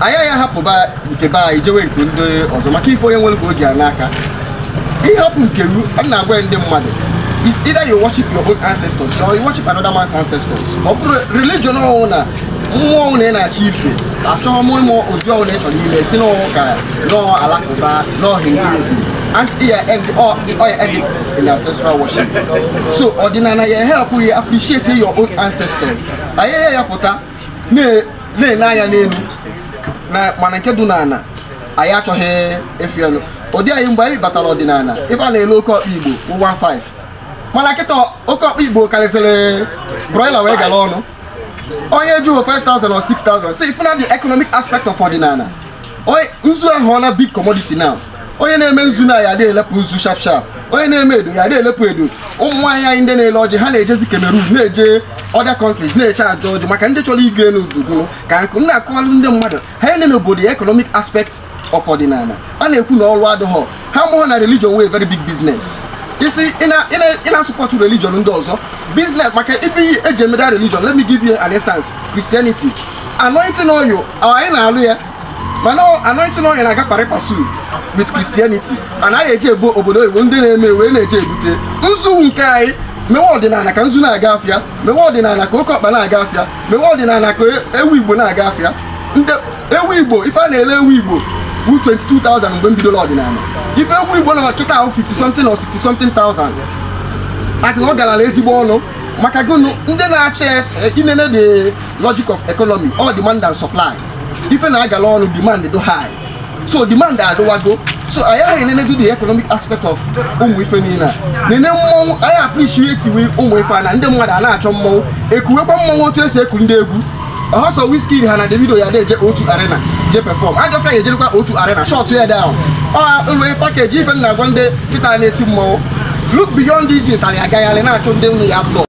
anyị ya hapụba nke be anyị jewe nke ndị ọzọ maka ife onye nwere ka o ji ya n'aka ịhapụ nke ru a na-agwa ndị mmadụ is either you worship your own ancestors or you worship another man's ancestors ọ bụrụ religion ọbụna mmụọ ọbụna ị na-achọ ife achọghị m ịma ụdị ọbụna ị chọrọ ime sị nọọ ụka nọọ alakụba nọọ hinduism and ya end all ya end in ancestral worship so ọdịnala ya help you appreciate your own ancestors anyị ya ya pụta na-ele anya n'elu mana nke dị n'ala anyị achọghị efi ọnụ ụdị anyị mgbe anyị batara ọdịnala ife a na-ele oke ọkpa igbo 15 mana kịta oke ọkpa igbo karịsịrị broiler wee gara ọnụ onye jụọ 5000 or 6000 so ị fụ na the economic aspect of ọdịnala nzu aghọọna big commodity now onye na-eme nzu na ya na-elepụ nzu sharp sharp onye na-eme edo ya na-elepụ edo ụmụ nwaanyị anyị ndị na-ele ọjị ha na-ejezi Cameroon na-eje other countries na-eje achọ ọjị maka ndị chọrọ ịgọ elu udugo ka nkụ na-akọwalụ ndị mmadụ ha ele n'obodo ya economic aspect of ọdịnala a na-ekwu na ọrụ adịghọ ha amaghọ na religion wụ very big business isi ị na-support religion ndị ọzọ business maka ife eji eme that religion let me give you an instance Christianity anointing oil anyị na-alụ ya mana anointing oil na-aga pari passu with Christianity anyị eje ebe obodo oyibo ndị na-eme wee na-eje ebute nzu nke anyị mewe ọdịnala ka nzu na-aga afịa mewe ọdịnala ka oke ọkpa na-aga afịa mewe ọdịnala ka ewu igbo na-aga afịa ewu igbo ife a na-ele ewu igbo bụ 22,000 mgbe m bidoro ọdịnala ife ewu igbo nọ kịta bụ 50 something or 60 something thousand a sị na ọ garala ezigbo ọnụ maka gụnụ ndị na-achọ i nene the logic of economy ọ demand and supply ife na-agala ọnụ demand dị high so demand adịwago so anyị ahụ na-enenedu the economic aspect of ụmụ ife niile e nene mmọnwụ anyị appreciatewe ụmụ ife a na ndị mmadụ a na-achọ mmọnwụ ekuwekwa mmọnwụ otu esi eku ndị egwu ọsọ Wizkid ha na Davido ya na-eje otu arena je perform ajọfịa ya ejerikwa otu arena shut ya down ọ ụlọ package ife m na-agwa ndị kịta na-eti mmọnwụ look beyond iji ụtarị agagharị na-achụ ndị nnu ya blọ